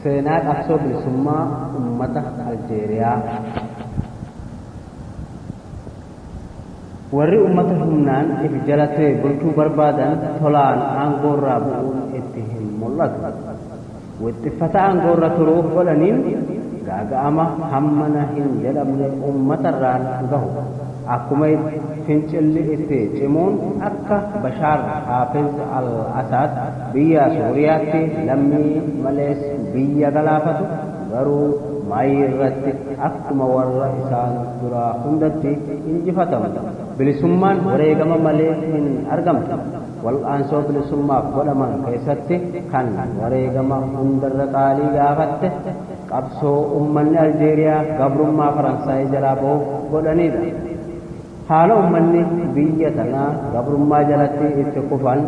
Seenaa qabsoo bilisummaa ummata Aljeeriyaa. Warri ummata humnaan if jala ture bulchuu barbaadan tolaan aangoorraa bu'uun itti hin mul'atu. Wixxiffata aangoorra turuuf godhaniin gaaga'ama hammana hin jedhamne ummatarraan gahu. Akkuma fincilli itti cimuun akka Bashaar Haafiz al-Asaad Biyya Sooriyaatti lammii malees biyya galaafatu, garuu Maayi irratti akkuma warra isaan duraa hundatti injifatamu. Bilisummaan wareegama malee hin argamtu. Wal'aansoo bilisummaaf godhaman keessatti kan wareegama hundarra qaalii gaafatte qabsoo ummanni Aljeeriyaa gabrummaa Faransaayii jalaa bahuuf godhaniidha. Haala ummanni biyya tanaa gabrummaa jalatti itti kufan,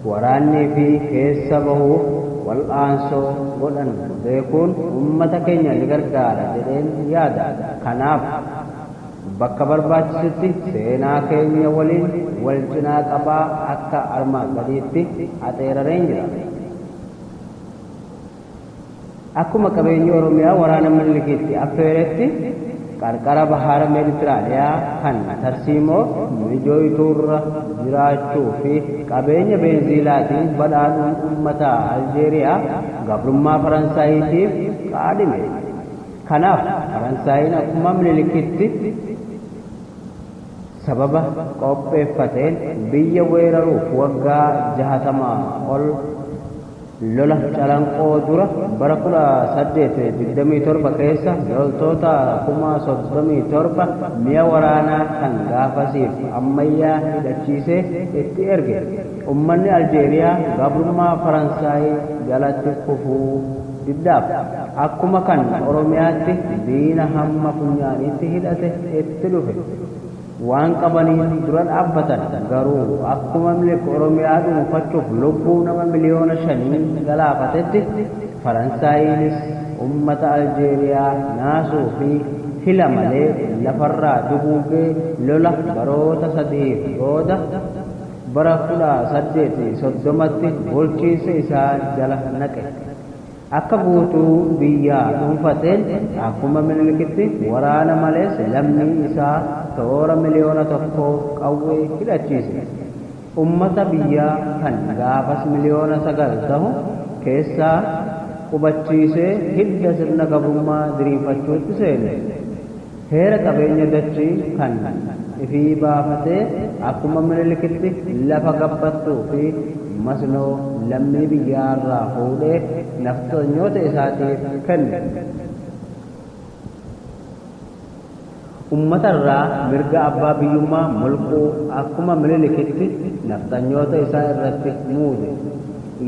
waraannii fi keessa bahuuf wal'aansoo godhan beekuun ummata keenya ni gargaara jedheen yaada. Kanaaf, bakka barbaachisutti seenaa keenya waliin wal cinaa qabaa akka armaan gadiitti axeerareen jira. Akkuma qabeenyi Oromiyaa waraana Minilikiitti affeeretti qarqara Bahara Meditiraaniyaa kan tarsiimoo mijooytuurra jiraachuu fi qabeenya beenziilaatiin badhaadhuun ummata Aljeeriyaa gabrummaa Faransaayiitiif kaadhime. Kanaaf Faransaayiin akkuma Minilikitti sababa qopheeffateen biyya weeraruuf waggaa jahatama ol Lola Calanqoo dura bara 1827 keessa loltoota kuma 37 mi'a waraanaa kan gaafasiif ammayyaa hidhachiisee itti erge. Ummanni Aljeeriyaa gabrummaa Faransaay jalatti kufuu diddaaf akkuma kan Oromiyaatti diina hamma funyaaniitti hidhate itti dhufe. Waan qabaniin dura dhaabbatan garuu akkuma Minilik Oromiyaa dhuunfachuuf lubbuu nama miliyoona shanii galaafatetti Faransaayiinis ummata Aljeeriyaa naasuu fi hila malee lafarraa duguuggee lola baroota sadihiif booda bara 1830tti bulchiinsa isaa jala naqe. Akka guutuu biyyaa dhuunfateen akkuma Minilikitti waraana malees lammii isaa toora miliyoona tokkoo qawwee hidhachiise. Ummata biyyaa kan gaafas miliyoona sagal tahu keessaa qubachiisee hidda sirna gabrummaa diriirfachuutti seene. Heera qabeenya dachii kan ifii baafatee akkuma Minilikitti lafa gabbattuu fi masnoo lammii biyyaa irraa fuudhee nafxanyoota isaatiif kenne. Ummata irraa mirga abbaa biyyummaa mulquu akkuma Minilikitti nafxanyoota isaa irratti muude.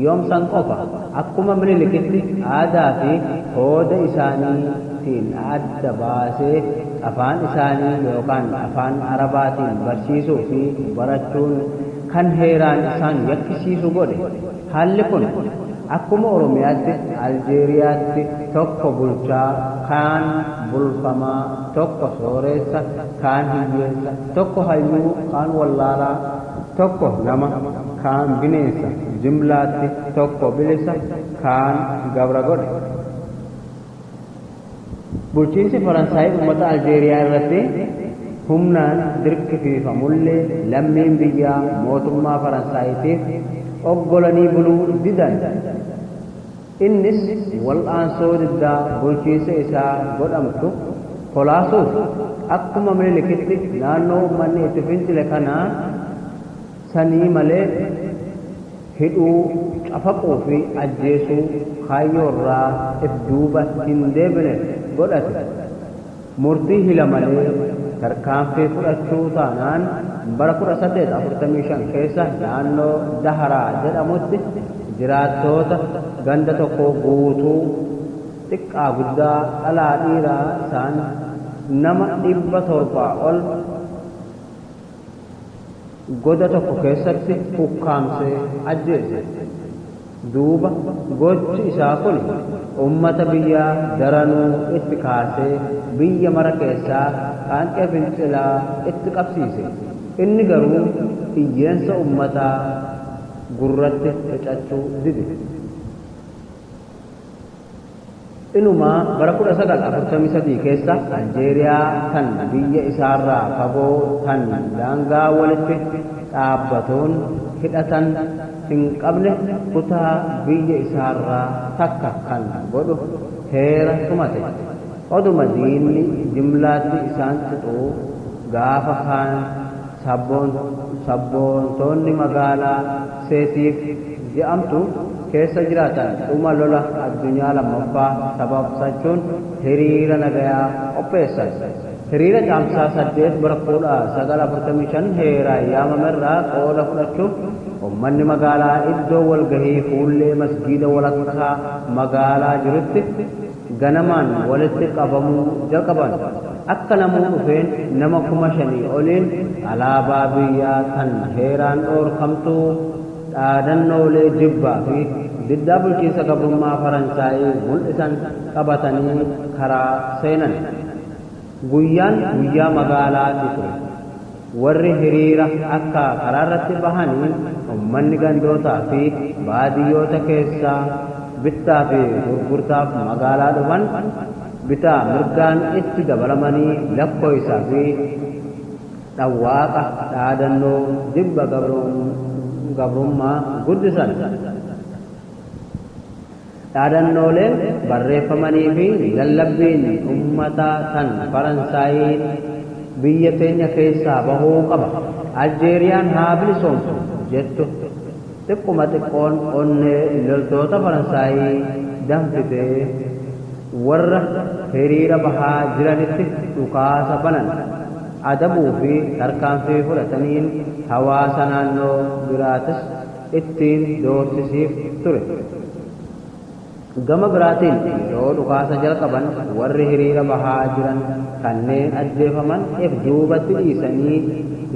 Yoom san qofa? Akkuma Minilikitti aadaa fi hooda isaanii tiin adda baasee afaan isaanii yookaan afaan Arabaatiin barsiisuu fi barachuun kan heeraan isaan yakkisiisu godhe. Haalli kun akkuma Oromiyaatti Aljeeriyaatti tokko bulchaa, kaan bulfamaa, tokko sooreessa, kaan hiyyeessa, tokko hayyuu, kaan wallaalaa, Tokko nama, kaan bineensa, jimlaatti tokko bilisa, kaan gabra godhe. Bulchiinsi Faransaay ummata Aljeeriyaa irratti humnaan dirqisiifamullee lammiin biyyaa mootummaa Faransaayitiif oggolanii buluu didan. Innis wal'aansoo diddaa bulchiinsa isaa godhamtu kolaasuuf akkuma Minilikitti naannoo ummanni itti fincile kana sanii malee hidhuu, cafaquu fi ajjeesuu kaayyoorraa if duuba hin deebine godhate. Murtii hila malee tarkaanfii fudhachuu taanaan bara 1845 keessa naannoo Daharaa jedhamutti jiraattoota ganda tokkoo guutuu xiqqaa guddaa dhalaa dhiiraa isaan nama 700 ol goda tokko keessatti ukkaamsee ajjeese. Duuba gochi isaa kun ummata biyyaa daranuu itti kaasee biyya mara keessaa qaanqee fincilaa itti qabsiise. Inni garuu iyyeensa ummataa gurratti fixachuu dide. Inumaa bara 1943 keessa Aljeeriyaa tan biyya isaarraa fagoo tan daangaa walitti dhaabbatuun hidhatan hin qabne kutaa biyya isaarraa takka kan godhu heera tumate. Oduma diinni jimlaatti isaan xuxuu gaafa kaan. Sabboontoonni magaalaa Seetiif je'amtu keessa jiraatan dhuma lola addunyaa lammaffaa sababsachuun hiriira nagayaa qopheessan. Hiriira Caamsaa 8 bara 1945 heeraan yaamamerraa qooda fudhachuuf ummanni magaalaa iddoo walgahii fuullee masgiida walakkaa magaalaa jirutti, ganamaan walitti qabamuu jalqaban. Akka namuu dhufeen nama kuma shanii oliin alaabaa biyyaa tan heeraan dhoorkamtuu, dhaadannoolee jibbaa fi diddaa bulchiinsa gabrummaa Faransaayii mul'isan qabatanii karaa seenan. Guyyaan guyyaa magaalaati ture. Warri hiriira akka karaarratti bahanii ummanni gandootaa fi baadiyyoota keessaa bittaa fi gurgurtaaf magaalaa dhufan bitaa mirgaan itti dabalamanii lakkooysa fi dhawwaaqa dhaadannoo jibba gabrummaa guddisan. Dhaadannooleen barreeffamanii fi lallabbiin ummataa kan Faransaayiin biyya teenya keessaa bahuu qaba, Aljeeriyaan haa bilisoomtu jettu xiqquma xiqqoon onnee loltoota Faransaayii danfitee warra hiriira bahaa jiranitti dhukaasa banan adabuu fi tarkaanfii fudhataniin hawaasa naannoo biraatis ittiin doorsisiif ture. Gama biraatiin yeroo dhukaasa jalqaban warri hiriira bahaa jiran kanneen ajjeefaman ef duubatti dhiisanii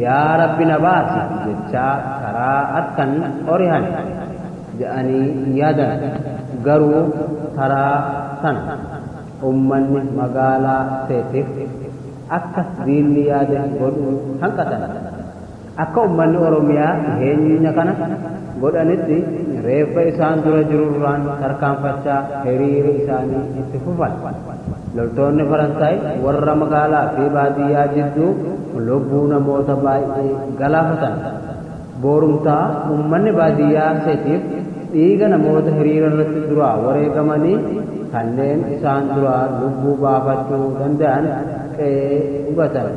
yaa Rabbi na baasi jechaa karaa arkan orihan jedhanii yaadan. Garuu taraa tana ummanni magaalaa Seetif akka diinni yaade godhuu hanqatan. Akka ummanni Oromiyaa dhiheenya kana godhanitti reeffa isaan dura jirurraan tarkaanfachaa hiriira isaanii itti fufan. Loltoonni Faransaay warra magaalaa fi baadiyyaa jidduu lubbuu namoota baay'ee galaafatan. Boorumtaa ummanni baadiyyaa Setiif dhiiga namoota hiriirarratti duraa wareegamanii kanneen isaan duraa lubbuu baafachuu danda'an qe'ee gubatan.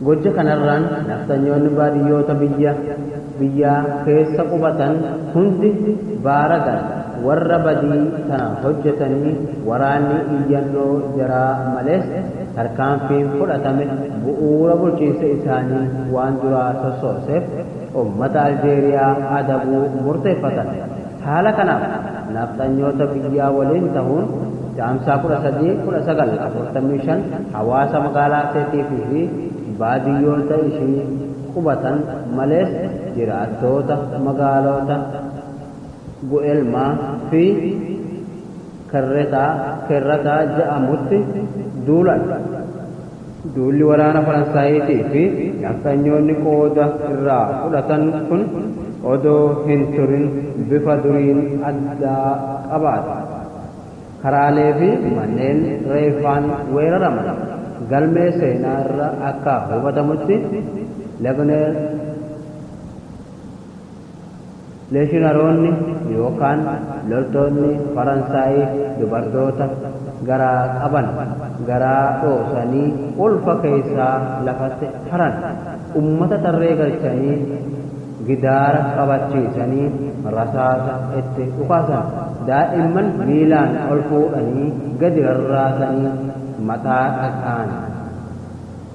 Gocha kanarraan nafxanyoonni baadiyyoota biyya biyyaa keessa qubatan hundi baaragan warra badii tana hojjatanii waraanni iyyannoo jaraa malees tarkaanfiin fudhatame bu'uura bulchiinsa isaanii waan duraa sossooseef ummata Aljeeriyaa adabuu murteeffatan. Haala kanaaf nafxanyoota biyyaa waliin tahuun Caamsaa 13, 1945 hawaasa magaalaa Arseetiif fi baadiyyoota ishii qubatan malees jiraattoota magaaloota Gu'elmaa fi. Kerretaa, Kerrata, ja'amutti duulan. Duulli waraana Faransaayiitii fi nafxanyoonni qooda irraa fudhatan kun odoo hin turin bifa duriin addaa qabaate. Karaalee fi manneen reeffaan weeraraman. Galmee seenaa irra akka hubatamutti Lebner, Leeshinaroonni yookaan loltoonni Faransaay dubartoota garaa qaban garaa dhoosanii ulfa keessaa lafatti haran. Ummata tarree galchanii gidaara qabachiisanii rasaasa itti dhukaasan. Daa'imman miilaan ol fuudhanii gadi rarraasanii mataa dhaqaan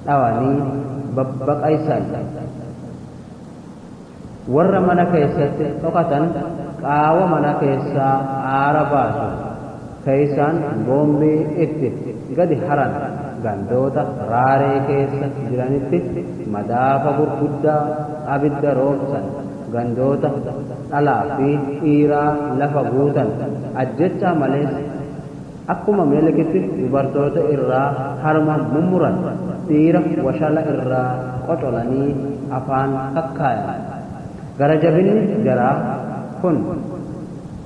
dhawanii babbaqaysan. Warra mana keessatti dhokatan qaawa mana keessaa aara baasu keessaan boombii itti gadi haran gandoota Raaree keessa jiranitti madaafa gurguddaa abidda roobsan gandoota dhalaa fi dhiiraa lafa guutan ajjechaa malees Akkuma Milikitti dubartoota irraa harma mummuran, dhiira washala irraa qocolanii afaan kakkaayan. Gara jabinni jaraa kun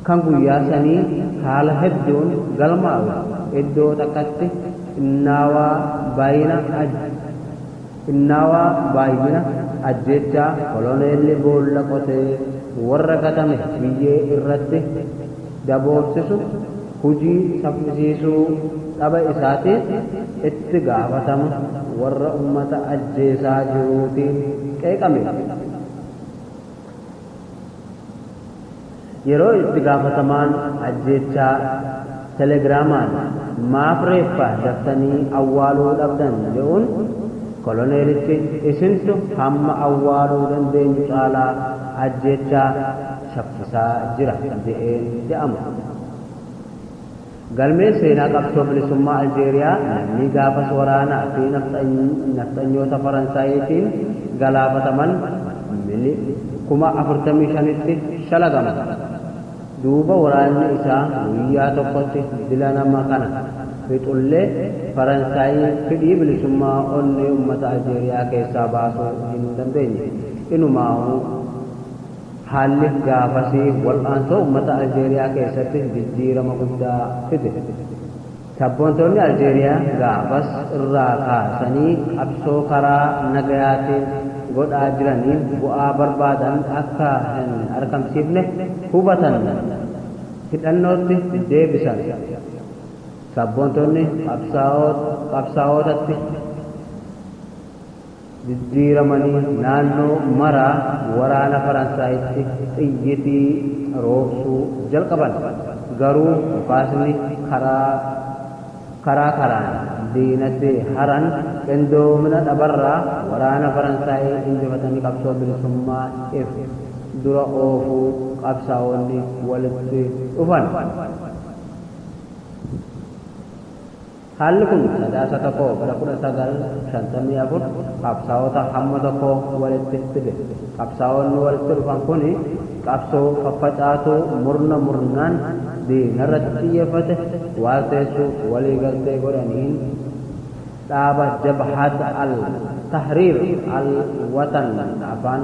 kan guyyaa sanii haala hedduun galmaawe iddoo takkatti xinnaawaa bayina aj. Xinnaawaa baay'ina ajjeechaa koloneelli boolla qotee warra gatame biyyee irratti daboorsisu hujii saffisiisuu dhaba isaatiif itti gaafatama warra ummata ajjeesaa jiruutiin qeeqame. Yeroo itti gaafatamaan ajjeechaa Telegiraamaan maaf reeffa daftanii awwaaluu dhabdan je'uun, koloneelichi isintu hamma awwaaluu dandeenyu caalaa ajjeechaa shaffisaa jira je'een je'ama. Galmeen seenaa qabsoo bilisummaa Aljeeriyaa lammii gaafas waraanaa fi nafxanyoota Faransaayiitiin galaafataman mili. 45,000tti shalagama. Duuba waraanni isaa guyyaa tokkotti dila nama kana fixullee Faransaayii fidhii bilisummaa onnee ummata Aljeeriyaa keessaa baasuu hin dandeenye. Inumaahuu. Haalli gaafasii wal'aansoo ummata Aljeeriyaa keessattis jijjiirama guddaa fide. Sabboontoonni Aljeeriyaa gaafas irraa kaasanii qabsoo karaa nagayaatiin godhaa jiraniin bu'aa barbaadan akka hin argamsiifne hubatan hidhannootti deebisan. Sabboontoonni qabsaa'ootatti. diddiiramanii naannoo maraa waraana Faransaayitti xiyyitii roobsuu jalqaban. Garuu dhukaasni karaa karaa karaan diinatti haran qindoomina dhabarraa waraana Faransaayii injifatanii qabsoo bilisummaa if dura oofuu qabsaa'onni walitti dhufan. Haalli kun Sadaasa 1 bara 1954 qabsaa'ota hamma tokko walitti fide. Qabsaa'onni walitti dhufan kun qabsoo faffacaatuu murna murnaan diinarratti xiyyeeffate waalteessuuf walii galtee godhaniin dhaaba Jabhat al Tahriir al Watan afaan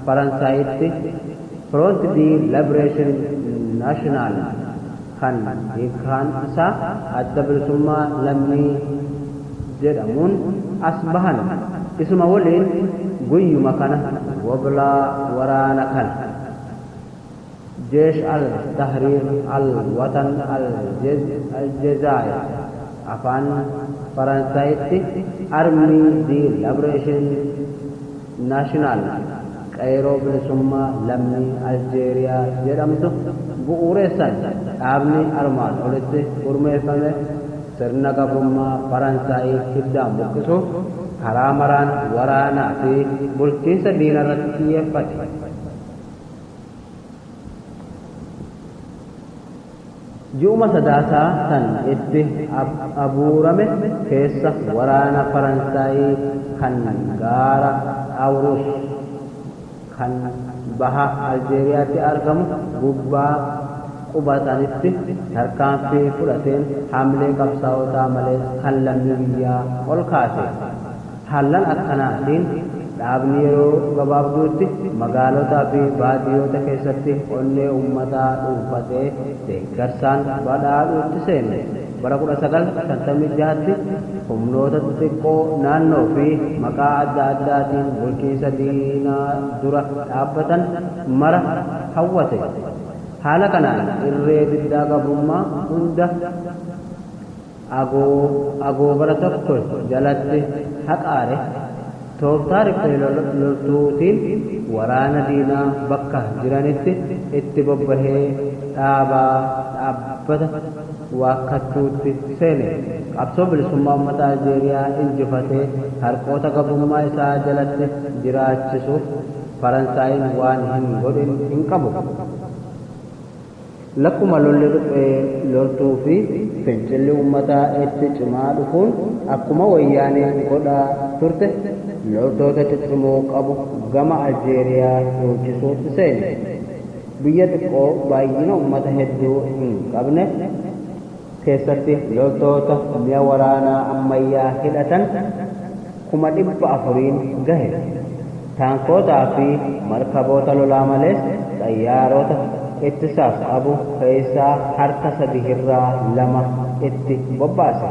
Faransaayitti Front de Liberation Nationale, kan hiikkaan isaa Adda Bilisummaa Lammii jedhamuun as bahan isuma waliin guyyuma kana woblaa waraana kana Jeesh Al Tahriir Al Watan Al Jezaayir, Afaan Faransaayitti Armée de Liberation, National, Qeyroo Bilisummaa Lammii Aljeeriyaa jedhamtu bu'uureessan. Dhaabni armaan olitti gurmeeffame sirna gabrummaa Faransaayiif hiddaan buqqisuuf karaa maraan waraanaa fi bulchiinsa diinarratti xiyyeeffate. Ji'uma Sadaasaa kan itti abuurame keessa waraana Faransaay kan gaara Awruush kan baha Aljeeriyaatti argamu gubbaa qubatanitti tarkaanfii fudhateen hamlee qabsaa'otaa malees kan lammii biyyaa ol kaase. Haallan akkanaatiin dhaabni yeroo gabaabduutti magaalotaa fi baadiyoota keessatti onnee ummataa dhuunfatee deeggarsaan badhaadhuutti seene. Bara 1956tti humnoota xixiqqoo naannoo fi maqaa adda addaatiin bulchiinsa diinaa dura dhaabbatan mara hawwate. Haala kanaan irree diddaa gabrummaa hunda. Abo, abo bara tokko jalatti haqaare tooftaa riphee loltuutiin waraana diinaa bakka jiranitti itti bobbahee dhaabaa dhaabbata waakkattuutti seene. Qabsoo bilisummaa ummata Aljeeriyaa injifatee harqoota gabrummaa isaa jalatti jiraachisuuf Faransaayiin waan hin godhin hin qabu. Lakkuma lolli riphee loltuu fi fincilli uummataa itti cimaa dhufuun akkuma Wayyaaneen godhaa turte loltoota ciccimoo qabu gama Aljeeriyaa dhoochisuu seene. Biyya xiqqoo baay'ina uummata hedduu hin qabne, keessatti loltoota mi'a waraanaa ammayyaa hidhatan kuma 400n gahe, taankootaa fi markaboota lolaa malees xayyaarota ittisaaf qabu keessaa harka sadihirraa lama itti bobbaase.